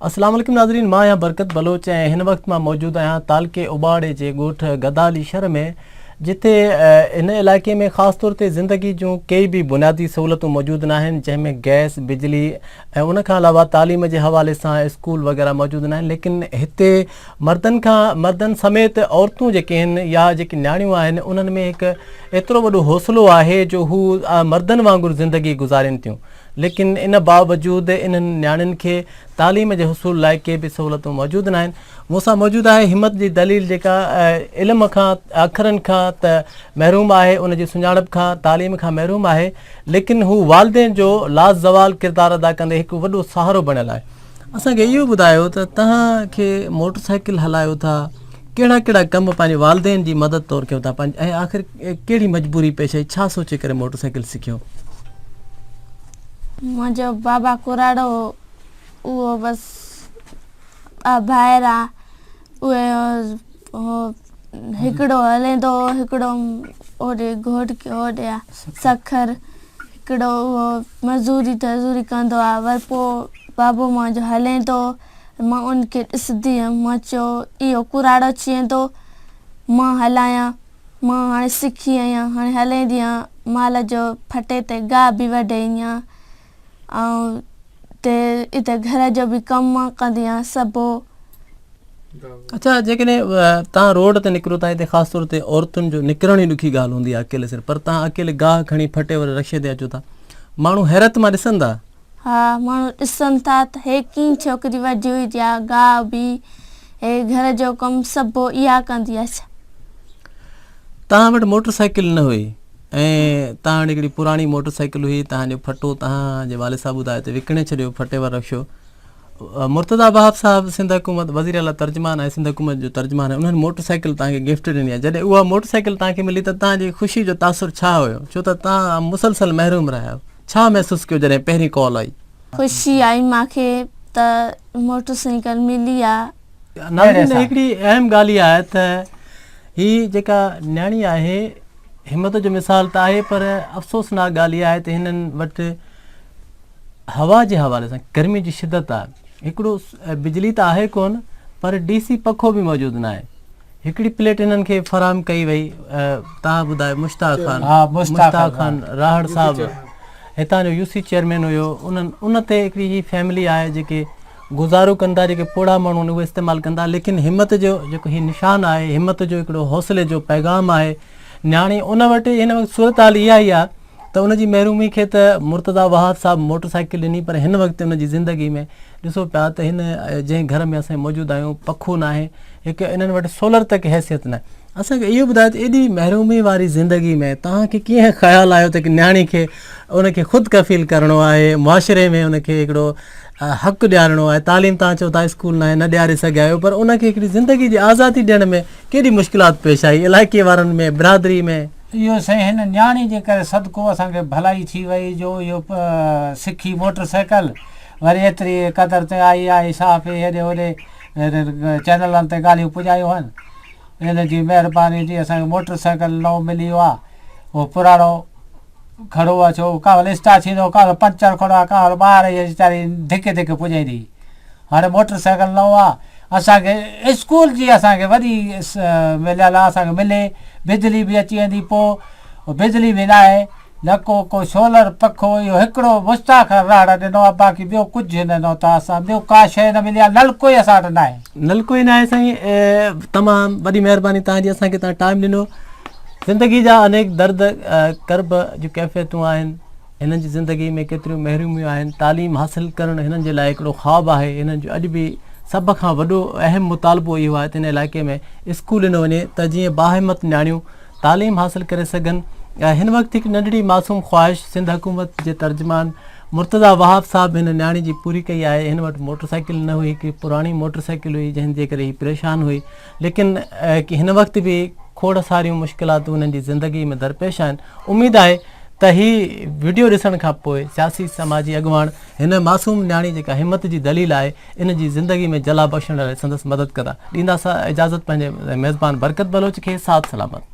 السلام عليڪم ناظرين مان آهيان برڪت بلوچ ۽ هن وقت مان موجود آهيان تعلقي اوٻاڙي جي ڳوٺ گدالي شھر ۾ جتي هن علائقي ۾ خاص طور تي زندگي جون ڪي به بنيادي سهولتون موجود ناهن جنهن ۾ گئس بجلي ۽ ان کان علاوه تعليم جي حوالي سان اسڪول وغيره موجود ناهن ليڪن هتي مردن کان مردن سميت عورتون جيڪي آهن يا جيڪي نياڻيون آهن انهن ۾ هڪ ايترو وڏو حوصلو آهي جو هو مردن وانگر زندگي گذارين ٿيون ليڪن ان باوجود انهن نياڻين کي تعليم جي حصول لاء ڪي به سهولتون موجود ناهن. مون سان موجود آهي همت جي دليل جيڪا علم کان، اکرن کان ته محروم آهي، ان جي سڃاڻپ کان، تعليم کان محروم آهي، ليڪن هو والدين جو لازوال ڪردار ادا ڪندي هڪ وڏو سهارو بڻيل آهي. اسان کي اهو ٻڌايو ته توهان کي موٽر سائيڪل هلايو ٿا ڪهڙا ڪهڙا ڪم پنهنجي والدين جي مدد طور ڪيو ٿا ۽ آخر ڪهڙي مجبوري پيش آئي ڇا سوچي ڪري موٽر سائيڪل سکيو منهنجو بابا ڪراڙو هو اهو بس ٻه ڀائر آ اهي هو هڪڙو هلين ٿو هڪڙو هوڏي گهوٽڪي هوڏي آ سکر هڪڙو اهو مزوري تزوري ڪندو آ وري پو بابو منهنجو هلين ٿو مان ان کي ڏسندي هيم مان چيو اهو ڪراڙو چين ٿو مان هلايان مان هاڻي سکي آهيان هاڻي هلين ڏيان مال جو ڦٽي تي گاهه به وڍي ايان آئون ته اتي گهر جو به ڪم ڪندي آهيان سڀو. اڇا جيڪڏهن تان روڊ تي نڪرو تان اتي خاص طور تي عورتن جو نڪرڻ ئي ڏکي ڳالهه هوندي آهي اڪيلي سر پر تان اڪيلي گاهه کڻي ڦٽي وري رڪشي تي اچو ٿا ماڻهو حيرت مان ڏسن ٿا. ها ماڻهو ڏسن ٿا ته هي ڪين ڇوڪري ويٺي هئي جا گاهه بي هي گهر جو ڪم سڀو اها ڪندي آهي ڇا. تان وٽ موٽر سائيڪل نه هئي. ۽ تان وٽ هڪڙي پراڻي موٽر سائيڪل هئي، تان جو ڦٽو تان جي والد صاحب ٻڌايو ته وڪڻي ڇڏيو، ڦٽي وارو رڪشو. مرتضيٰ وهاب صاحب سنڌ حڪومت، وزير اعليٰ ترجمان ۽ سنڌ حڪومت جو ترجمان آهي، انهن موٽر سائيڪل تان کي گفٽ ڏني آهي، جڏهن اها موٽر سائيڪل تان کي ملي ته تان جي خوشي جو تاثر ڇا هيو، ڇو ته تان مسلسل محروم رهيا آهيو، ڇا محسوس ڪيو جڏهن پهرين ڪال آئي؟ خوشي آئي مان کي ته موٽر سائيڪل ملي آهي. ناظرين هڪڙي اهم ڳالهه اها آهي ته هي جيڪا نياڻي آهي، همت جو مثال ته آهي پر افسوسناڪ ڳالهه اها آهي ته هنن وٽ هوا جي حوالي سان گرمي جي شدت آهي هڪڙو بجلي ته آهي ڪون پر ڊي سي پکو به موجود نه آهي هڪڙي پليٽ هنن کي فراهم ڪئي وئي تها ٻڌايو مشتاق خان مشتاق خان راهڙ صاحب هتان جو يو سي چيئرمين هيو انهن ان تي هڪڙي هي فيملي آهي جيڪي گذارو ڪن ٿا جيڪي پوڙها ماڻهو آهن اهي استعمال ڪن ٿا ليڪن همت جو جيڪو هي نشان آهي همت جو هڪڙو حوصلي جو پيغام آهي نياڻي ان وٽ هن وقت صورتحال اها ئي آهي ته ان جي محرومي کي ته مرتضيٰ وهاب صاحب موٽر سائيڪل ڏني پر هن وقت ان جي زندگي ۾ ڏسو پيا ته هن جنهن گهر ۾ اسين موجود آهيون پکو ناهي هڪ انهن وٽ سولر تڪ حيثيت ناهي اسان کي اهو ٻڌايو ته ايڏي محرومي واري زندگي ۾ توهان کي ڪيئن خيال آيو ته نياڻي کي ان کي خود ڪفيل ڪرڻو آهي معاشري ۾ ان کي هڪڙو حق ڏيارڻو آهي تعليم تان چئو ٿا اسڪول ناهي نه ڏياري سگهيا آهيو پر ان کي هڪڙي زندگي جي آزادي ڏيڻ ۾ ڪيڏي مشڪلات پيش آئي علائقي وارن ۾ برادري ۾ اهو سائين هن نياڻي جي ڪري صدقو اسان کي ڀلائي ٿي وئي جو اهو سکي موٽر سائيڪل وري ايتري قدر تي آئي آئي صحافي هيڏي هوڏي چينلن تي ڳالهيون پڄايون هن ان جي مهرباني جي اسان کي موٽر سائيڪل نئون مليو آهي اهو پراڻو کڙو آ ڇو ڪا هل اسٽا ٿيندو ڪا هل پنچر کڙو آ ڪا هل ٻاهر اهي ويچاري ڌڪي ڌڪي پڄائين ٿي هاڻي موٽر سائيڪل نئون آ اسان کي اسڪول جي اسان کي وڏي مليل آ اسان کي ملي بجلي به اچي ويندي پو بجلي به ناهي نه ڪو ڪو سولر پکو اهو هڪڙو مشتاق راهڙ ڏنو آ باقي ٻيو ڪجهه نه ڏنو تان اسان ٻيو ڪا شيء نه ملي آ نلڪو ئي اسان وٽ ناهي نلڪو ئي ناهي سائين تمام وڏي مهرباني تان جي اسان کي تان ٽائيم ڏنو زندگي جا انيڪ درد ڪرب جون ڪيفيتون آهن، هنن جي زندگي ۾ ڪيتريون محروميون آهن، تعليم حاصل ڪرڻ هنن جي لاء هڪڙو خواب آهي، هنن جو اڄ به سڀ کان وڏو اهم مطالبو اهو آهي ته هن علائقي ۾ اسڪول ڏنو وڃي ته جيئن باهمت نياڻيون تعليم حاصل ڪري سگهن، هن وقت هڪ ننڍڙي معصوم خواهش سنڌ حڪومت جي ترجمان مرتضيٰ وهاب صاحب هن نياڻي جي پوري ڪئي آهي، هن وٽ موٽرسائيڪل نه هئي، هڪڙي پراڻي موٽرسائيڪل هئي جنهن جي ڪري هي پريشان هئي، ليڪن هن وقت به کوڙ ساريون مشڪلاتون هنن جي زندگي ۾ درپيش آهن اميد آهي ته هي وڊيو ڏسڻ کان پوء سياسي سماجي اڳواڻ هن معصوم نياڻي جيڪا همت جي دليل آهي ان جي زندگي ۾ جلا بخشڻ لاء سندس مدد ڪندا ڏيندا سا اجازت پنهنجي ميزبان برڪت بلوچ کي ساٿ سلامت